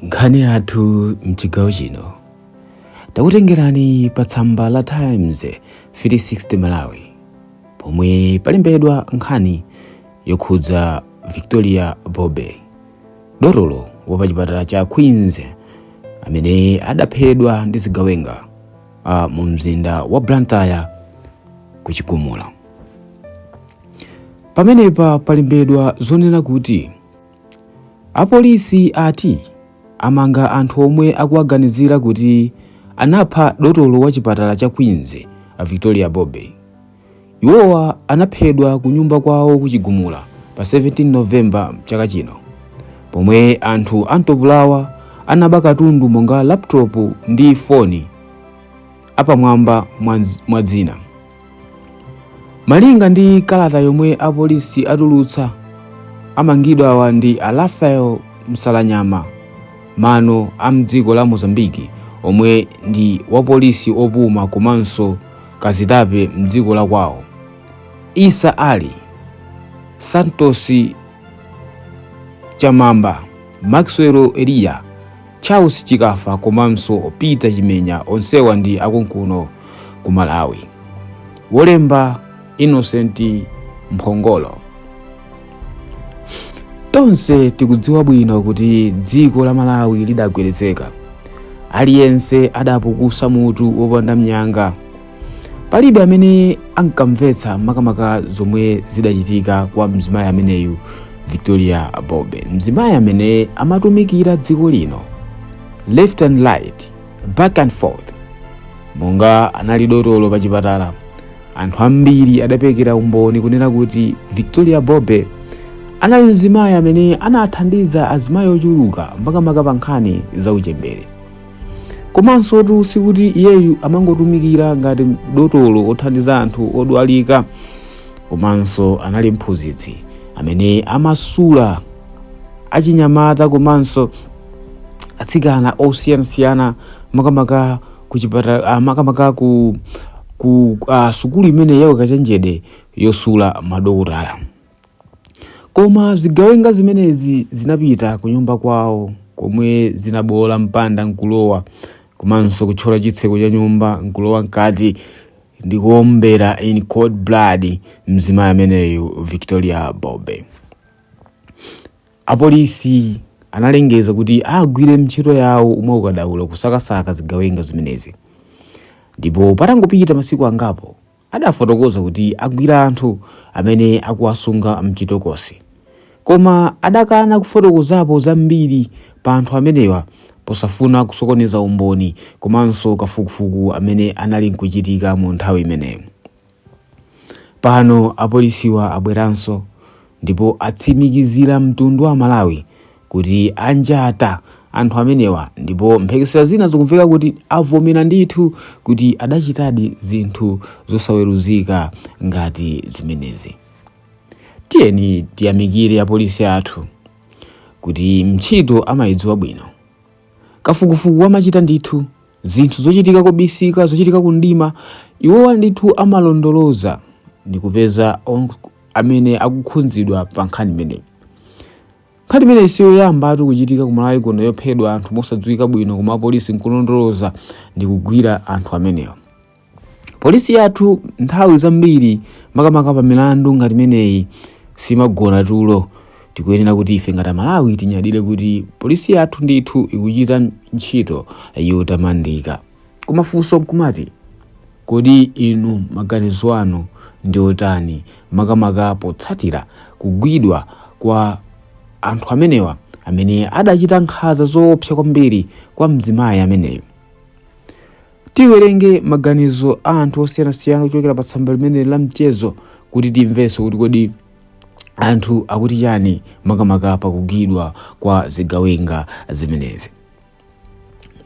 nkhani yathu mchigawo chino takutengerani pa tsamba la times 360 malawi pomwe palembedwa nkhani yokhudza victoria bobe dotolo wa pa chipatala cha queens amene adaphedwa ndi zigawenga mu mzinda wa blantyre ku chigumula Pamenepa palembedwa zonena kuti apolisi ati amanga anthu omwe akuwaganizira kuti anapha dotolo wa chipatala cha Queens a Victoria Bobe. Iwowa anaphedwa ku nyumba kwawo ku Chigumula pa 17 November chaka chino pomwe anthu amtopolawa anaba katundu monga laptop ndi foni apamwamba mwa zina. malinga ndi kalata yomwe apolisi atulutsa amangidwawa ndi a rafael msalanyama mano a mdziko la mozambiki omwe ndi wapolisi opuma komanso kazitape mdziko la kwawo isa ali santos chamamba maxwell eliya Charles Chikafa komanso Peter Chimenya onsewa ndi akunkuno ku Malawi. Wolemba Innocent Mphongolo. Tonse tikudziwa bwino kuti dziko la Malawi lidagwedezeka. Aliyense adapukusa mutu wopanda nyanga palibe amene ankamvetsa makamaka zomwe zidachitika kwa mzimayi ameneyu victoria bobe mzimayi amene amatumikira dziko lino left and right back and forth monga anali dotolo pa chipatala anthu ambiri adaperekera umboni kunena kuti victoria bobe anali mzimayi amene anathandiza azimayi ochuluka makamaka pa nkhani za uchembere komansotu sikuti iyeyu amangotumikira ngati dotolo othandiza anthu odwalika komanso anali mphunzitsi amene amasula achinyamata komanso atsikana osiyanasiyana makamaka ku chipatala ah, makamaka ku ku ah, sukulu imene ya ukachenjede yosula madokotala Koma zigawenga zimenezi zinapita kunyumba kwawo komwe zinaboola mpanda n'kulowa komanso kuthyola chitseko cha nyumba n'kulowa mkati ndi kuombera in cold blood mzimayi ameneyu Victoria Bobe. Apolisi analengeza kuti agwire ntchito yawo mwaukadaulo kusakasaka zigawenga zimenezi ndipo patangopita masiku angapo Adafotokoza kuti agwira anthu amene akuwasunga mchitokosi koma adakana kufotokozapo zambiri pa anthu amenewa posafuna kusokoneza umboni komanso kafukufuku amene anali nkuchitika mu nthawi imeneyo. Pano apolisiwa abweranso ndipo atsimikizira mtundu wa Amalawi kuti anjata anthu amenewa ndipo mphekesera zina zikumveka kuti avomera ndithu kuti adachitadi zinthu zosaweruzika ngati zimenezi tiyeni tiyamikire apolisi athu kuti ntchito amayidziwa bwino kafukufuku amachita ndithu zinthu zochitika kobisika zochitika kumdima iwowa ndithu amalondoloza ndikupeza amene akukhudzidwa pa nkhani imeneyi Nkhani imeneyi si yoyambatu kuchitika ku Malawi kuno yophedwa anthu mosadziwika bwino koma apolisi nkulondoloza ndi kugwira anthu amenewa. Polisi yathu nthawi zambiri makamaka pa milandu ngati imeneyi simagona tulo. Tikuyenera kuti ife ngati Amalawi tinyadire kuti polisi yathu ndithu ikuchita ntchito yotamandika. Koma funso nkumati, kodi inu maganizo anu ndi otani makamaka potsatira kugwidwa kwa anthu amenewa amene adachita nkhaza zoopsa kwambiri kwa mzimayi ameneyo? Tiwerenge maganizo a anthu osiyanasiyana kuchokera pa tsamba limene la mchezo kuti timvenso kuti kodi anthu akuti chani makamaka pakugwidwa kwa zigawenga zimenezi.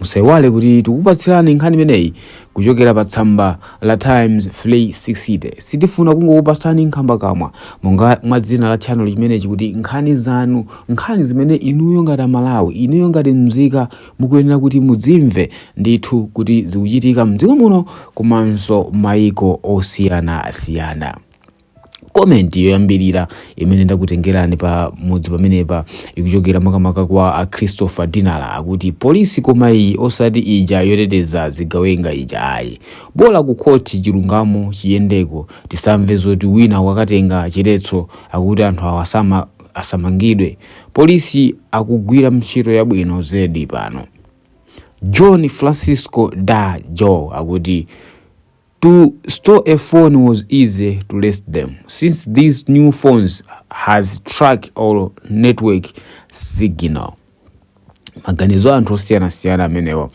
musaiwale kuti tikupatsirani nkhani imeneyi kuchokera pa tsamba la times 360 sitifuna kungokupatsani nkhambakamwa monga mwa dzina la channel chimenechi kuti nkhani zanu nkhani zimene inuyo ngati amalawi inuyo ngati mzika mukuyenera kuti mudzimve ndithu kuti zikuchitika mdziko muno komanso maiko osiyanasiyana komenti yoyambirira imene ndakutengerani pa mudzi pamenepa ikuchokera makamaka kwa a christopher dinala akuti polisi koma iyi osati ija yoteteza zigawenga ija ayi bola ku khoti chilungamo chiyendeko tisamve zoti wina wakatenga chiletso akuti anthu awa asama- asamangidwe polisi akugwira ntchito yabwino zedi pano john francisco da joe akuti To store a phone was easy to less them since these new phones has track or network signal. Maganizo a anthu osiyanasiyana amenewa.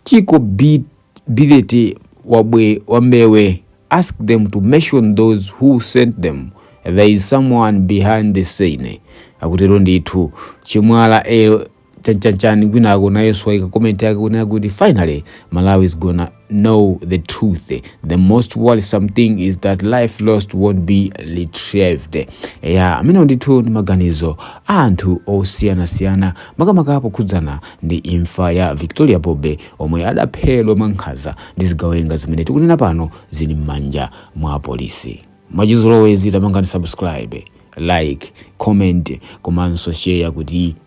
Chiko Bi- Bilete Wabwe Wambewe ask them to mention those who sent them. There is someone behind the scene. Akutero ndithu Chimwala L- chanichani kwinako nayenso waika comment yake kunena kuti finally malawi is gonna know the truth the most worrisome thing is that life lost won't be retrieved ya amenewo ndithu ndi maganizo a anthu osiyanasiyana makamaka pokhudzana ndi imfa ya victoria bobe omwe adaphedwa mwankhaza ndi zigawenga zimene tikunena pano zili m'manja mwa apolisi mwachizolowezi tapangani subscribe like comment komanso share kuti